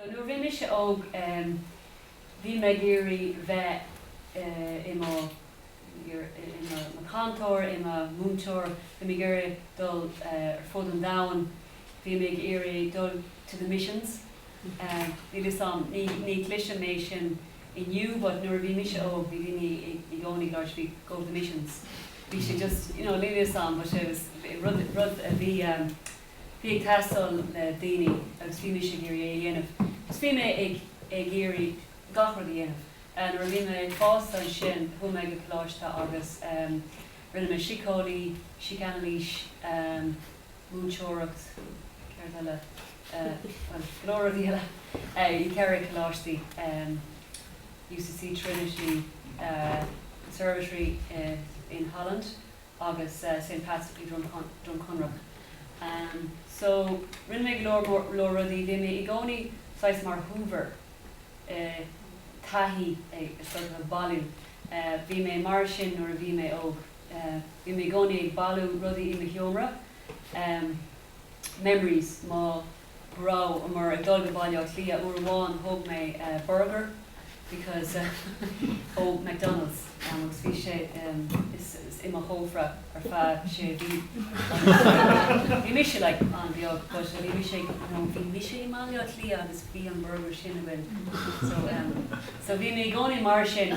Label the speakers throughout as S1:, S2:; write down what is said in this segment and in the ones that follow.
S1: Sea, nuair a bhí mise óg, bhí mé ag iarraidh bheith i mo, i mo chantóir, i mo mhúinteoir, bhí mé ag iarraidh dul ar fud an domhain, bhí mé ag iarraidh dul to the missions, níl 'fhios a'm, ní, ní chloisim é sin inniu but nuair a bhí mise óg bhí daoine i gcónaí ag labhairt faoi go to the missions. bhí sé just, you know, níl fhios a'm but it was rud, rud a bhí eh, bhí ag teastáil le daoine agus bhí mise ag iarraidh é a dhéanamh just bhí mé ag, ag iarraidh gach rud a dhéanamh eh nuair a bhí mé fásta ansin chuaigh mé go Coláiste agus em rinne mé síceolaíocht, síocanailís em múinteoireacht, céard eile eh bhuel go leor rudaí eile eh i gceithre Coláistí em. UCC Trinity Conservatory in Holland agus St Pat's i Droim Conrach so rinne mé go leor leor rudaí, bhí mé i gcónaí saghas mar Hoover i taithí ag sort of ag bailiú, bhí mé mar sin nuair a bhí mé óg, bhí mé i gcónaí ag bailiú rudaí i mo sheomra, memories mo. rabhamar ag dul go Baile Átha Cliath, uair amháin thóg mé burgar because ó McDonalds agus bhí sé i mo chófra ar feadh sé mhí agus bhí mise like an-bheag but bhí mise ag you know bhí mise i mBaile Átha Cliath agus bhí an burgar sin againn so so bhí mé i gcónaí mar sin.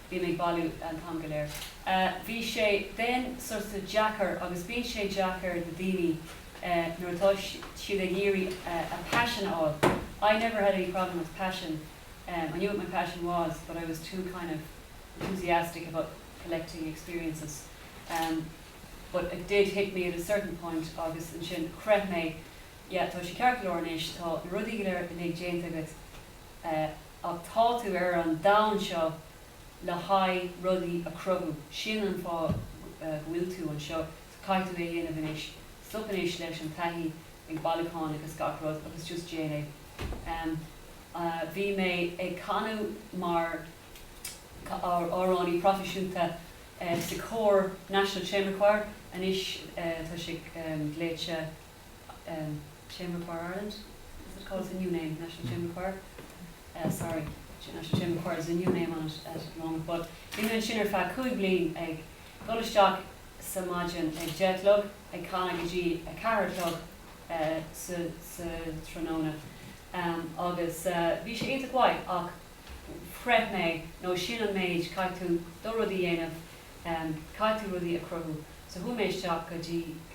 S1: Bhí mé ag bailiú an t-am go léir. Bhí sé, bheinn, sorta deacair, agus bíonn sé deacair do daoine nuair atá siad ag iarraidh a paisean a fháil, I never had any problem with passion, I knew what my passion was but I was too kind of enthusiastic about collecting experiences, but it did hit me at a certain point agus ansin shroich mé, yeah, tá sé ceart go leor anois, tá na rudaí go léir uilig déanta agat, Ach tá tú ar an domhan seo le haghaidh rudaí a chruthú. Sin an fáth go bhfuil tú anseo. So caithfidh tú é a dhéanamh anois. Stop anois leis an taithí ag bailiúcháin agus gach rud agus just déan é. Bhí mé ag canadh mar amhránaí proifisiúnta sa chór National Chamber Choir, anois tá siad glaoite. Chamber Choir Ireland, as it's called the new name, National Chamber Choir, sorry, National Chamber Choir is a new name on it at the moment, but bhí mé ansin ar feadh cúig bliain ag dul isteach sa maidin ag deich a chlog, ag canadh go dtí a ceathair a chlog sa tráthnóna agus bhí sé iontach mhaith ach chreid mé, nó sin an méid, caithfidh tú do rud a dhéanamh, caithfidh tú rudaí a chruthú so chuaigh mé isteach go dtí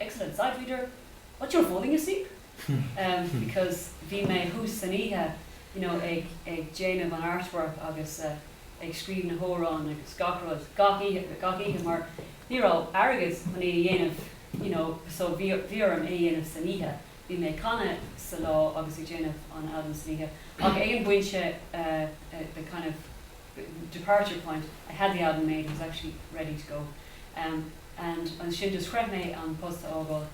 S1: excellent sight reader but you're falling asleep em because bhí mé suas san oíche you know ag ag déanamh an artwork agus eh ag scríobh na hamhráin agus gach rud gach oíche gach oíche mar ní raibh airgead chun í a dhéanamh you know so bhí bhí orm é a dhéanamh san oíche bhí mé ag canadh sa lá agus ag déanamh an albam san oíche ach ag an bpointe the kind of departure point, I had the album made, and was actually ready to go and ansin just chreid mé an post a fhágáil.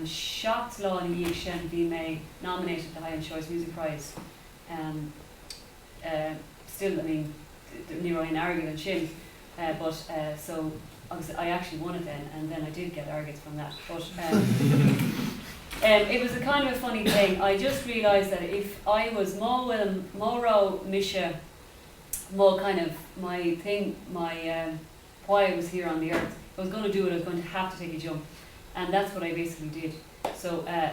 S1: Seacht lá ina dhiaidh sin bhí mé nominated le haghaidh an Choice Music Prize, still, I mean ní raibh aon airgead ansin, eh but eh so agus I actually won it then and then I did get airgid from that but em em it was a kind of a funny thing I just realised that if I was má bhfuil má raibh mise má kind of my thing my em why I was here on the earth if I was going to do it I was going to have to take a jump and that's what I basically did so eh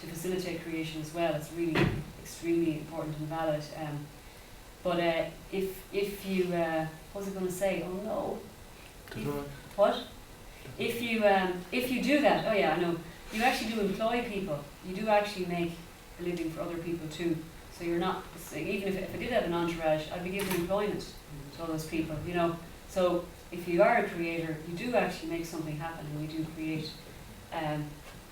S1: to facilitate creation as well, it's really extremely important and valid em but eh if, if you eh what was I gonna say oh no if what? if you em if you do that oh yeah I know you actually do employ people you do actually make a living for other people too so you're not even if, if I did have an entourage I'd be giving employment to all those people you know so if you are a creator you do actually make something happen and you do create em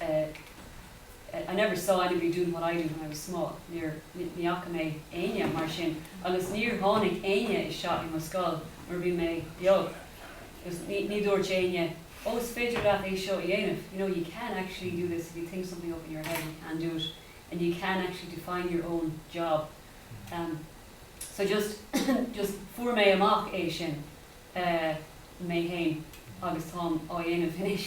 S1: eh, I never saw anybody doing what I do when I was small, níor, ní fhaca mé éinne mar sin agus níor tháinig éinne isteach i mo scoil nuair a bhí mé beag agus ní, ní dúirt éinne oh is féidir leat é seo a dhéanamh you know you can actually do this if you think something up in your head you can do it you can actually define your own job, em, so just, just fuair mé amach é sin. eh mé féin agus táim á dhéanamh anois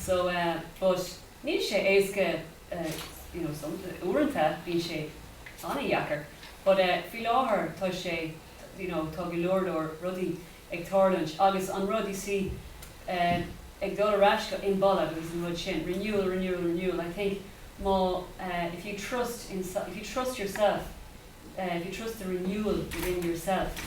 S1: so eh but níl sé éasca eh you know some uaireanta bíonn sé ana-dheacair but eh faoi láthair tá sé you know tá go leor leor rudaí ag tarlúint agus an rud you see eh ag dul ar ais go Imbolg agus an rud sin renewal renewal renewal I think má eh if you trust in if you trust yourself eh if you trust the renewal within yourself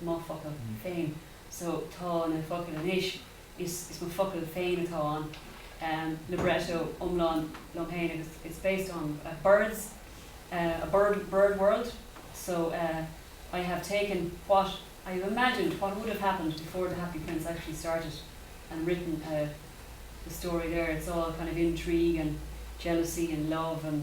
S1: mo focail féin so tá na focail anois is is mo focail féin atá ann em libretto iomlán liom féin agus it's based on a birds eh a bird bird world so eh I have taken what I have imagined what would have happened before the happy prince actually started and written eh the story there it's all kind of intrigue and jealousy and love and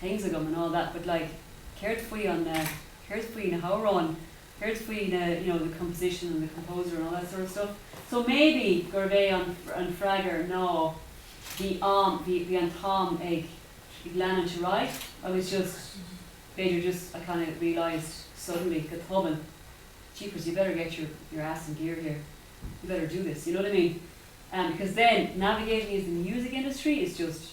S1: things agam and all that but like céard faoin eh, céard faoi na hamhráin, céard faoi na, you know, the composition and the composer and all that sort of stuff so maybe gurbh é an, an freagair ná bhí am, bhí, bhí an t-am ag, ag leanúint ar aghaidh agus just, b'fhéidir just I kind of realised suddenly, go tobann, jeepers you better get your, your ass in gear here, you better do this, you know what I mean? Because then navigating the music industry it's just.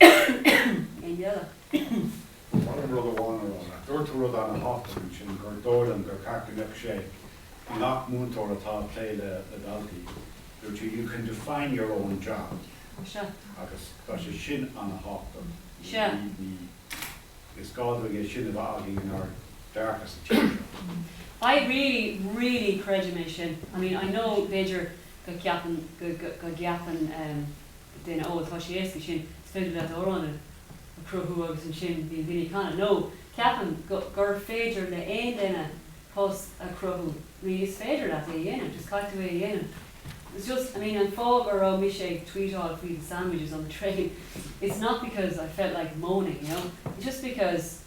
S1: Éinne eile? Molaim rud amháin a rá. Dúirt tú rud ana-thábhachtach ansin, gur dóigh liom gur cheart go mbeadh sé i ngach múinteoir atá ag plé le daltaí. Dúirt tú you can define your own job agus tá sé sin ana-thábhachtach. Is gá dúinn é sin a bheith againn inár ndearcadh sa tír seo. I really, really creidim é sin. I mean, I know b'fhéidir go gceapann, go gceapann em. duine, Ó, tá sé éasca sin, is féidir leat amhrán a chruthú agus ansin bíonn daoine ag canadh. Nó, Ceapaim gur féidir le haon duine post a chruthú. I mean, is féidir leat é a dhéanamh, just caithfidh tú é a dhéanamh. It's just, I mean, an fáth go raibh mise ag tweetáil faoi the sandwiches on the train, it's not because I felt like moaning, you know, it's just because.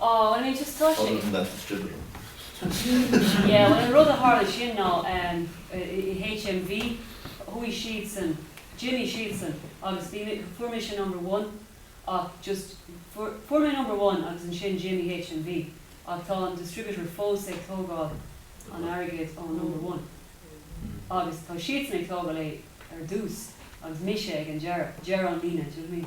S1: Oh, I mean just tá sé. Other than that it's drivel. Yeah, bhuel an rud a tharla sin ná i HMV chuaigh siadsan, d'imigh siadsan agus bhí mé, fuair mise number one ach just, fuair mé number one agus ansin d'imigh HMV ach tá an distributor fós ag tógáil an airgid ón number one agus tá siadsan ag tógáil é ar dtús agus mise ag an deireadh, deireadh an líne, do you know what I mean?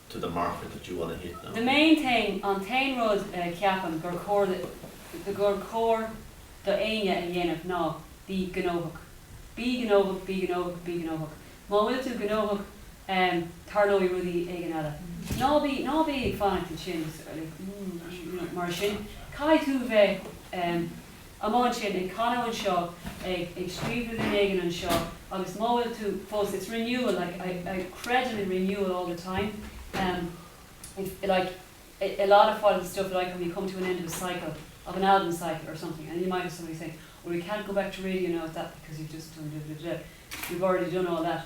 S1: to the market that you wanna hit now. The main thing, an t-aon rud a cheapaim gur chóir do, gur chóir do éinne a dhéanamh ná bí gnóthach. Bí gnóthach, bí gnóthach, bí gnóthach. Má bhfuil tú gnóthach tarlóidh rud éigin eile. Ná bí, ná bí ag fanacht ansin 's like, mm, mar sin caithfidh tú bheith. amháin sin, ag canadh anseo, ag ag scríobh rud éigin anseo, agus má bhfuil tú fós, it's renewal, like I I creidim in renewal all the time, em if like i i lot of while the stuff like when you come to an end of a cycle, of an album cycle or something and you might have somebody saying, well we can't go back to radio now at that because you've just done duh duh duh, you've already done all that.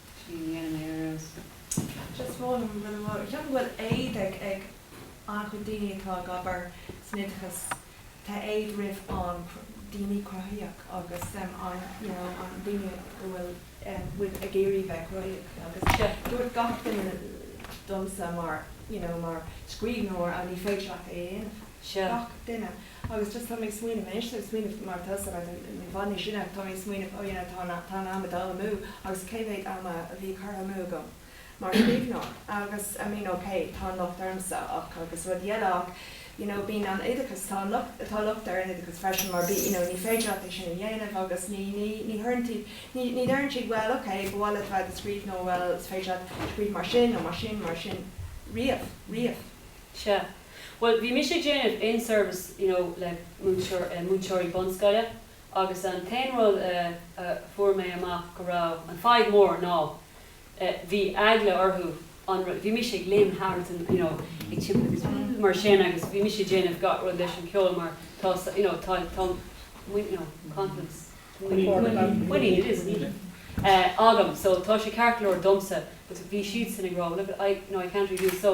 S1: Sin í an Éire is fearr. Just one, an bhfuil mo, cheapaim go bhfuil éad ag, ag an-chuid daoine atá ag obair san oideachas, tá éad roimh an daoine cruthaíoch agus an you know an daoine go bhfuil ag iarraidh bheith cruthaíoch agus dúirt gach duine domsa mar you know mar scríbhneoir á ní féidir leat é a dhéanamh, gach duine. Agus just tá mé ag smaoineamh anois, ag smaoineamh mar tá mé, i bhfad níos sine, tá mé ag smaoineamh, oh yeah, tá an, tá an am ag dul amú agus cé mhéad ama a bhí curtha amú agam mar scríbhneoir agus I mean ok, tá an locht ormsa ach, agus rudaí eile ach you know bíonn an oideachas, tá an locht, tá locht ar an oideachas freisin mar bí, you know ní féidir leat é sin a dhéanamh agus ní, ní, ní chuireann siad, ní, ní deireann siad bhuel ok, ba mhaith leat a bheith ag scríobh nó bhuel is féidir leat scríobh mar sin nó mar sin, mar sin riamh, riamh. Sea. Bhuel, bhí mise ag déanamh in-service you know le múinteoirí bunscoile agus an t-aon rud a fuair mé amach go raibh an fadhb mór ná bhí eagla orthu an rud, bhí mise ag léim thart and you know ag timpiste agus mar sin agus bhí mise ag déanamh gach rud leis an ceol mar tá you know tá tá muinín you know confidence muinín it is muinín agam so tá sé ceart go leor domsa but bhí siadsan ag rá well look I you know I can't really do it so